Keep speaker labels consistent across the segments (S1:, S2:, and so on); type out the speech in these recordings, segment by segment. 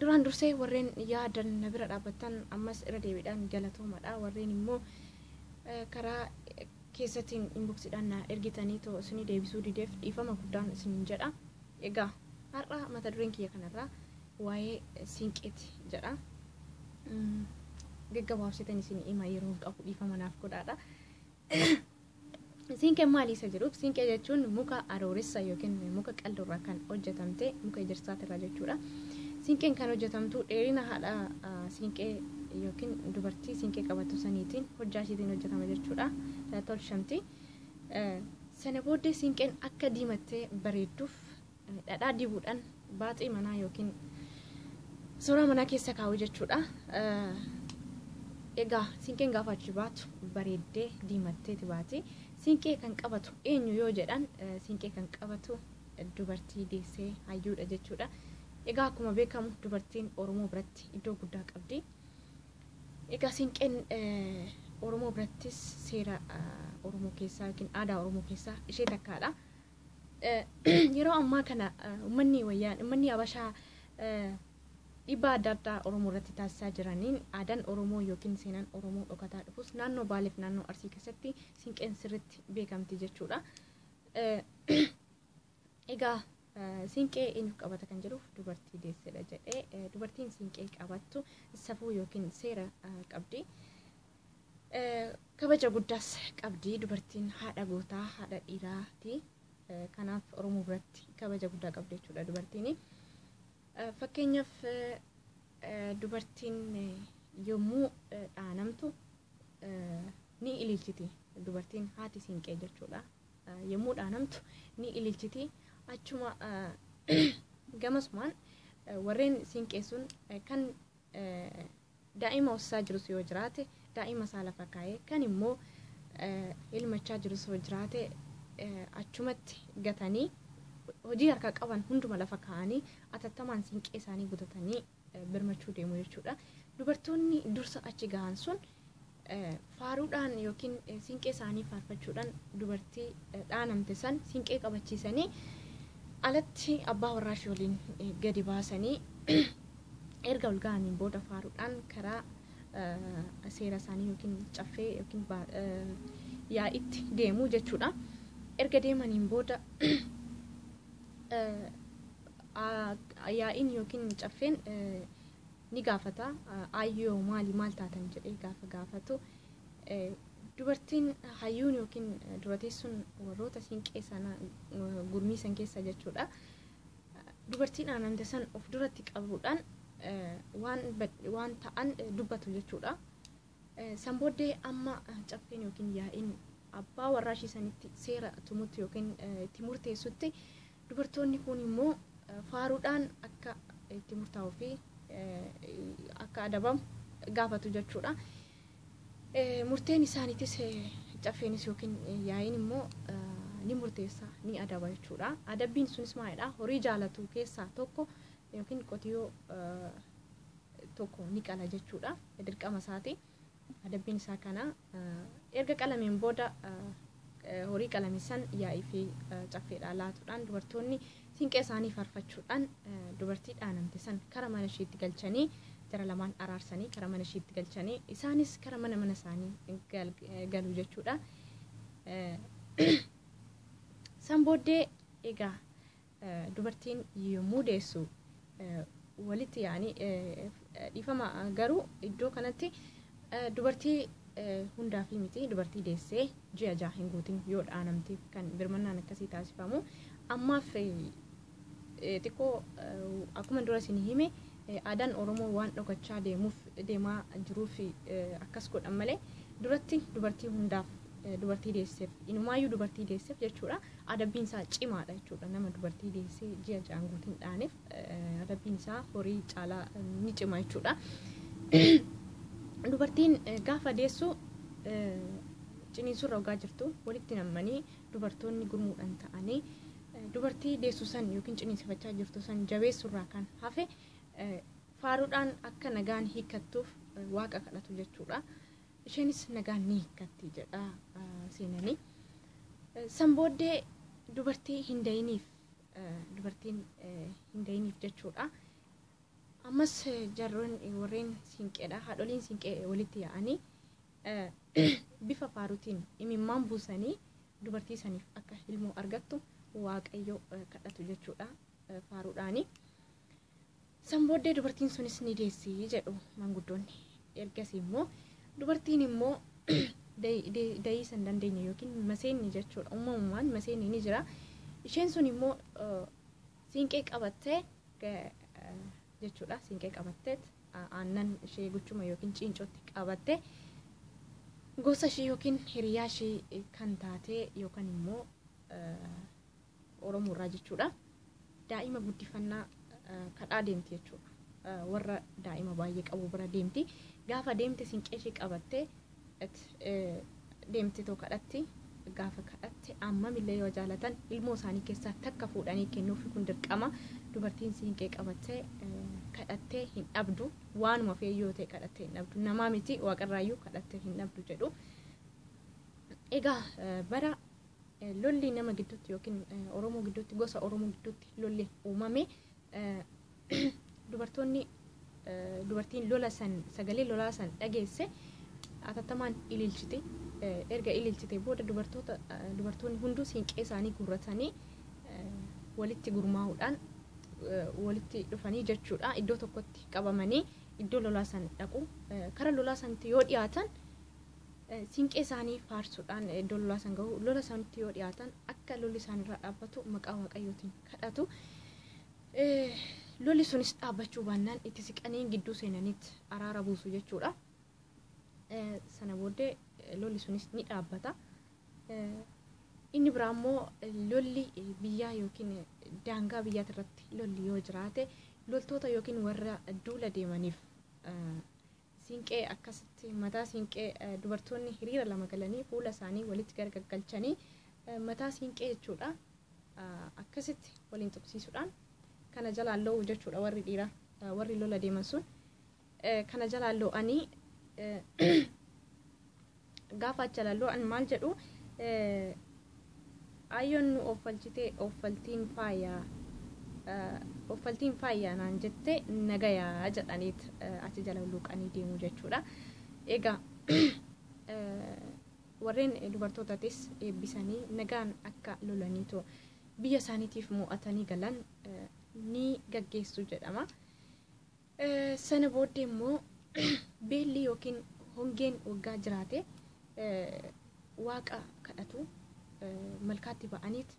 S1: Duraan dursee warreen yaadan na bira dhaabbattan ammas irra deebiidhaan galatoomadha. Warreen immoo karaa keessatiin inboksiidhaan na ergitanii too isinii deebisuu dideef dhiifama guddaan isiniin jedha. Egaa har'a mata dureen kiyya kanarraa waa'ee siinqeeti jedha. Gaggabaabsitan isin hima yeroon qabu dhiifama naaf godhaadha. Siinqeen maali isa jedhuuf siinqee jechuun muka arooressa yookiin muka qal'oorraa kan hojjetamte muka ejersaatirraa jechuudha. Siinqeen kan hojjetamtu dheerina haadha siinqee yookiin dubartii siinqee qabattu saniitiin hojjaa ishiitiin hojjetama jechuudha. Tolchamti. Sana booddee siinqeen akka diimattee bareedduuf dhadhaa dibuudhaan baaxii manaa yookiin suuraa manaa keessa kaa'u jechuudha. Egaa siinqeen gaafa achi baatu bareeddee diimatteeti baati. Siinqee kan qabatu eenyu yoo jedhan siinqee kan qabatu dubartii deessee hayyuudha jechuudha. Egaa akkuma beekamu dubartiin Oromoo biratti iddoo guddaa qabdi. Egaa siinqeen Oromoo birattis seera Oromoo keessaa yookiin aadaa Oromoo keessaa ishee takkaadha. Yeroo ammaa kana ummanni wayyaan ummanni Habashaa dhiibbaa adda addaa Oromoo irratti taasisaa jiraniin aadaan Oromoo yookiin seenaan Oromoo dhokataa dhufus naannoo Baaleef naannoo Arsii keessatti siinqeen sirriitti beekamti jechuudha. Egaa siinqee eenyuuf qabata kan jedhuuf dubartii deessedha jedhee dubartiin siinqee qabattu safuu yookiin seera qabdi. Kabaja guddaas qabdi dubartiin haadha gootaa haadha dhiiraati. Kanaaf Oromoo biratti kabaja guddaa qabdi jechuudha dubartiin. Fakkeenyaaf dubartiin yommuu dhaanamtu ni ililchiti dubartiin haati siinqee jechuudha. Yommuu dhaanamtu ni ililchiti achuma gamasumaan warreen siinqeessuun kan Daa'ima hossaa jirus yoo jiraate daa'ima isaa lafa kaa'ee kan immoo ilmachaa jirus yoo jiraate achumatti gatanii hojii harkaa qaban hunduma lafa kaa'anii atattamaan siinqee isaanii gutatanii birmachuu deemu jechuudha. Dubartoonni dursa achi gahan sun Faaruudhaan yookiin siinqee isaanii faarfachuudhaan dubartii dhaanamte san siinqee qabachiisanii alatti abbaa warraashii waliin gadi baasanii erga ol ga'aniin booda faaruudhaan karaa seera isaanii yookiin caffee yookiin yaa'itti deemu jechuudha. Erga deemaniin booda yaa'iin yookiin caffeen ni gaafata. Aayyoo maali maal taatan jedhee gaafa gaafatu dubartiin hayyuun yookiin dura teessuun warroota siinqee sana gurmii san keessa jechuudha. Dubartiin aananda san of duratti qabuudhaan waan ta'an dubbatu jechuudha. San booddee amma caffeen yookiin yaa'iin abbaa warraa ishii sanitti seera tumutti yookiin itti murteessutti dubartoonni kun immoo faaruudhaan akka itti murtaa'uu fi akka adabamu gaafatu jechuudha. Murteen isaaniitis caffeenis yookiin yaa'iin immoo ni murteessa ni adaba jechuudha. Adabbiin sunis maalidha? Horii jaalatu keessaa tokko yookiin qotiyyoo tokko ni qala jechuudha. Dirqama isaati. Adabbiin isaa kana erga qalameen booda horii qalame san yaa'ii fi caffeedhaa laatuudhaan dubartoonni siinqee isaanii faarfachuudhaan dubartii dhaanamte san kara mana ishiitti galchanii jara lamaan araarsanii kara mana ishiitti galchanii isaanis kara mana mana isaanii galu jechuudha. San booddee egaa Dubartiin yommuu deessu walitti yaa'anii dhiifama garuu iddoo kanatti dubartii hundaafii miti dubartii deessee ji'a jaha hin guutin yoo dhaanamteef kan birmannaan akkasii taasifamu ammaaf xiqqoo akkuma dura isin hime aadaan oromoo waan dhokachaa deemuuf deemaa jiruuf akkas godhan malee duratti dubartii hundaaf dubartii deesseef inumaayyuu dubartii deesseef jechuudha. adabbiin isaa cimaadha jechuudha nama dubartii deessee ji'a ja'an guutiin dhaaneef adabbiin isaa horii caalaa ni cima jechuudha. Dubartiin gaafa deessu ciniinsurra ogaa jirtu walitti nammanii dubartoonni gurmuudhaan ta'anii dubartii deessu san yookiin ciniinsifachaa jirtu san jabeessurraa kan hafe faaruudhaan akka nagaan hiikkattuuf waaqa kadhatu jechuudha. isheenis nagaan ni hiikkatti jedha seenani. San booddee dubartii hin dayiniif dubartiin hin dayiniif jechuudha. Ammas jarroon warreen siinqeedha haadholiin siinqee walitti yaa'anii bifa faaruutiin imimmaan buusanii dubartii saniif akka ilmoo argattu waaqayyo kadhatu jechuudha faaruudhaani. San booddee dubartiin sunis ni deessi jedhu manguddoonni. Ergasii immoo dubartiin immoo dayiisa hin dandeenye yookiin maseenni jechuudha. Uumamumaan maseenni ni jira. Isheen sun immoo siinqee qabattee jechuudha. Siinqee qabattee aannan ishee guchuma yookiin ciincootti qabattee gosa ishii yookiin hiriyaa ishii kan taatee yookaan immoo Oromoo irraa jechuudha. Daa'ima guddifannaa kadhaa deemti jechuudha. Warra daa'ima baay'ee qabu bira deemti. Gaafa deemte sinqee ishee qabattee deemte too kadhatti. Gaafa kadhatte ammamillee yoo jaalatan ilmoo isaanii keessaa takka fuudhanii kennuuf kun dirqama. Dubartiin siinqee qabattee kadhattee hin dhabdu. Waanuma fe'ee yoo ta'e kadhattee hin dhabdu. Namaa miti waaqarraayyuu kadhattee hin dhabdu jedhu. Egaa bara Lolli nama gidduutti yookiin Oromoo gidduutti gosa Oromoo gidduutti lolli uumame dubartoonni dubartiin lola san sagalee lolaa san dhageesse atattamaan ililchite erga ililchite booda dubartoota dubartoonni hunduu siinqee isaanii guurratanii walitti gurmaa'uudhaan walitti dhufanii jechuudha iddoo tokkotti qabamanii iddoo lolaa san dhaqu kara lolaa sanatti yoo dhiyaatan Siinqee isaanii faarsuudhaan iddoo lolaa san gahu. Lola sanitti yoo dhiyaatan akka lolli isaanirraa dhaabbatu maqaa waaqayyootiin kadhatu. Lolli sunis dhaabbachuu baannaan itti siqanii gidduu seenaniit araara buusu jechuudha. Sana booddee lolli sunis ni dhaabbata. Inni biraa immoo lolli biyyaa yookiin daangaa biyyaati irratti lolli yoo jiraate loltoota yookiin warra duula deemaniif Siinqee akkasitti mataa siinqee dubartoonni hiriira lama galanii fuula isaanii walitti gargaggalchanii mataa siinqee jechuudha. Akkasitti waliin tuqsiisuudhaan kana jalaan loo'u jechuudha warri dhiiraa warri lola deeman sun. Kana jalaan loo'anii Gaafa acha lalloo an maal jedhu ayyoon nu offalchite offaltiin faayaa offaltiin faayaa naan jette nagayaa jedhaniit achi jala luuqanii deemu jechuudha. Egaa warreen dubartootatis eebbisanii nagaan akka lolaniitu biyya isaaniitiif mo'atanii galan ni gaggeessu jedhama. Sana booddee immoo beelli yookiin hongeen waggaa jiraate waaqa kadhatu malkaatti ba'aniit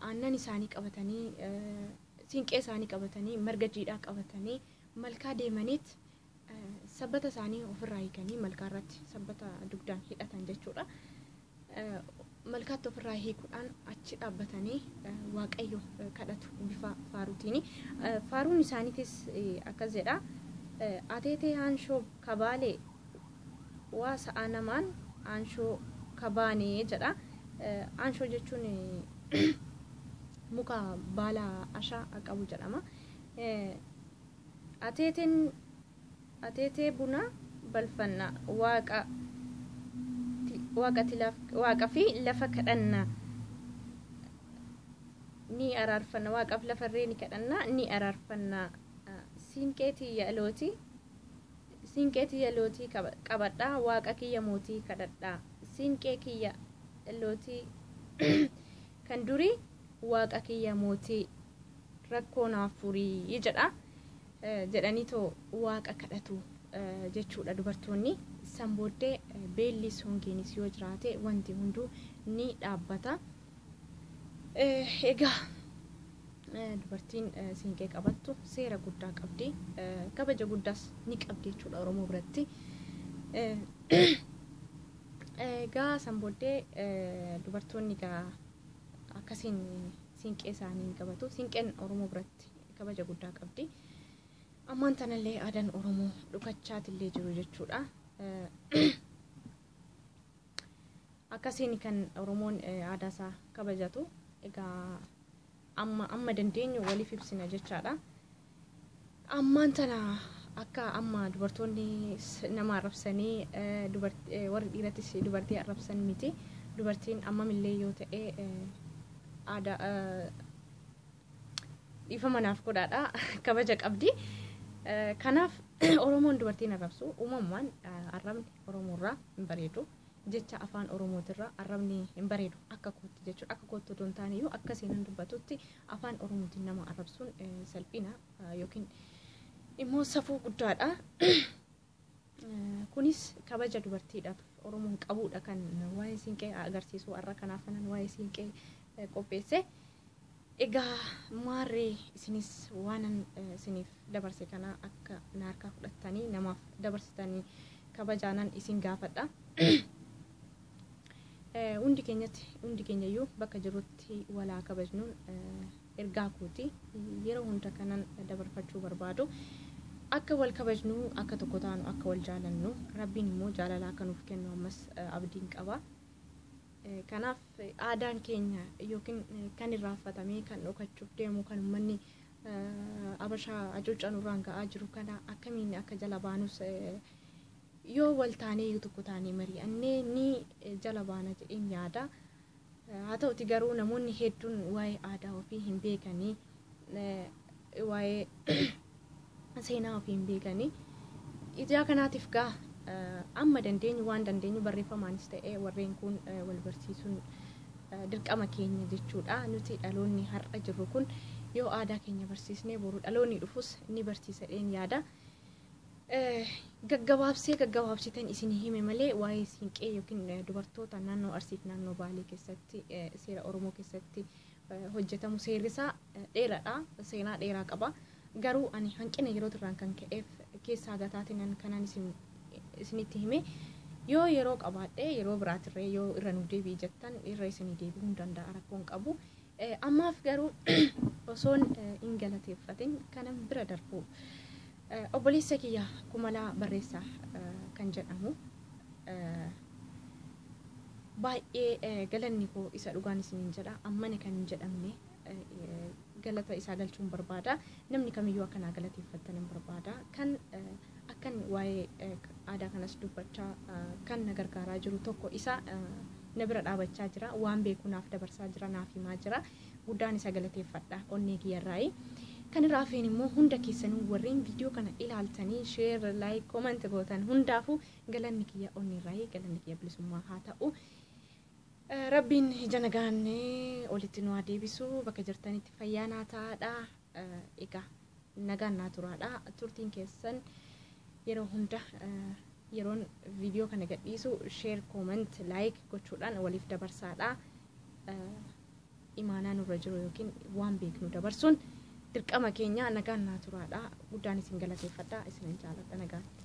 S1: aannan isaanii qabatanii siinqee isaanii qabatanii marga jiidhaa qabatanii malkaa deemaniit sabbata isaanii ofirraa hiikanii malkaa irratti sabbata dugdaan hidhatan jechuudha. malkaatti ofirraa hiikuudhaan achi dhaabbatanii waaqayyo kadhatu bifa faaruutiini. Faaruun isaaniitis akkas jedha. Ateetee haanshoo kabaalee waa sa'a namaan haanshoo kabaanee jedha. Haanshoo jechuun muka baala ashaa qabu jedhama. Ateeteen Ateetee bunaa balfanna. Waaqa waaqati waaqa fi lafa kadhanna ni araarfanna waaqaaf lafa irree ni kadhanna ni araarfanna siinqee tiyya looti siinqee tiyya lootii qabadha waaqa kiyya mootii kadhadha siinqee kiyya lootii kan durii waaqa kiyya mootii rakkoo naaf furii jedha jedhaniitoo waaqa kadhatu jechuudha dubartoonni. San booddee beellis hongeenis yoo jiraate wanti hunduu ni dhaabbata. Egaa dubartiin siinqee qabattu seera guddaa qabdi. Kabaja guddaas ni qabdi jechuudha Oromoo biratti. Egaa san booddee dubartoonni egaa akkasiin siinqee isaanii ni qabatu. Siinqeen Oromoo biratti kabaja guddaa qabdi. Ammaan tanallee aadaan Oromoo dhukachaatillee jiru jechuudha. Akkasiin kan Oromoon aadaa isaa kabajatu egaa amma amma dandeenyu waliif ibsina jechaadha. Ammaan tana akka amma dubartoonni nama arrabsanii warri dhiirattis dubartii arrabsan miti. Dubartiin ammamillee yoo ta'e aadaa dhiifama naaf godhaadha kabaja qabdi. Eh, Kanaaf Oromoon dubartiin arrabsu uumamumaan eh, arrabni Oromoorraa hin bareedu. Jecha afaan Oromootirraa arrabni hin bareedu akka kootti jechuudha. Akka kootti otoo hin taane iyyuu akka seenan dubbatutti afaan Oromootiin nama arrabsuun eh, salphina eh, yookiin immoo safuu guddaadha. Kunis kabaja dubartiidhaaf Oromoon qabuudha kan waa'ee siinqee agarsiisu har'a kanaaf kanan waa'ee siinqee qopheesse. Egaa maarree isinis waanan isiniif dabarse kana akka na harkaa fudhattanii namaaf dabarsitanii kabajaanan isin gaafadha. Eh, Hundi keenyatti hundi keenyayyuu bakka jirrutti walaa kabajnuun eh, ergaa kooti yeroo hunda kanan dabarfachuu barbaadu akka wal kabajnu akka tokko taanu akka wal jaalannu rabbiin immoo jaalala akka nuuf kennu ammas eh, abdiin qaba. Eh, Kanaaf eh, aadaan keenya yookiin eh, kan irraanfatamee kan dhokachuuf deemu kan uummanni eh, abashaa hacuuccaa nurraan ga'aa jiru kana akkamiin akka jala baanus eh, yoo wal taanee yoo tokko taanee mari'annee ni jala baana jedheen yaada. Haa ta'uti garuu namoonni hedduun waa'ee aadaa ofii hin beekanii waa'ee seenaa ofii hin beekanii. Ijaa kanaatiif gaa amma dandeenyu waan dandeenyu barreeffamaanis ta'ee warreen kun wal barsiisuun dirqama keenya jechuudha. Nuti dhaloonni har'a jirru kun yoo aadaa keenya barsiisnee boru dhaloonni dhufus ni barsiisa jedheen yaada. Gaggabaabsee gaggabaabsitan isin hime malee waa'ee siinqee yookiin dubartoota naannoo Arsiif naannoo Baalee keessatti seera Oromoo keessatti hojjetamu seerrisaa dheeraadha. Seenaa dheeraa qaba. Garuu ani hanqina yeroo irraan kan ka'eef keessaa gataatinan kanan isin isinitti hime yoo yeroo qabaadhe yeroo biraatirree yoo irra nuuf deebi'i jettan irra isinii deebi'uu hin danda'a rakkoon qabu. Ammaaf garuu osoon hin galateeffatin kanan bira darbu obboleessa kiyya kumalaa barreessaa kan jedhamu baay'ee galanni koo isa dhugaan isiniin jedha ammana kan hin jedhamne galata isaa galchuun barbaada namni kamiyyuu akkanaa galateeffattanan barbaada kan Akkan waa'ee aadaa kanas dubbachaa kan na gargaaraa jiru tokko isa na bira dhaabachaa jira. Waan beeku naaf dabarsaa jira, naaf himaa jira. Guddaan isa galateeffadha onnee kiyyarraayi. Kan irraa hafeen immoo hunda keessanuu warreen viidiyoo kana ilaaltanii share, like, comment gootan hundaafuu galanni kiyya onneerraayi, galanni kiyya bilisummaa haa ta'u. Eh, Rabbiin ija nagaan eh, olitti nu haa deebisu, bakka jirtanitti fayyaa naa ta'aadha. Eh, Egaa nagaan naa turaadha turtiin keessan yeroo hunda yeroon viidiyoo kana gadhiisu sheer kooment laayik gochuudhaan waliif dabarsaadha imaanaa nurra jiru yookiin waan beeknu dabarsuun dirqama keenya nagaan naa turaadha guddaan isin galateeffadha isinan jaaladha nagaatti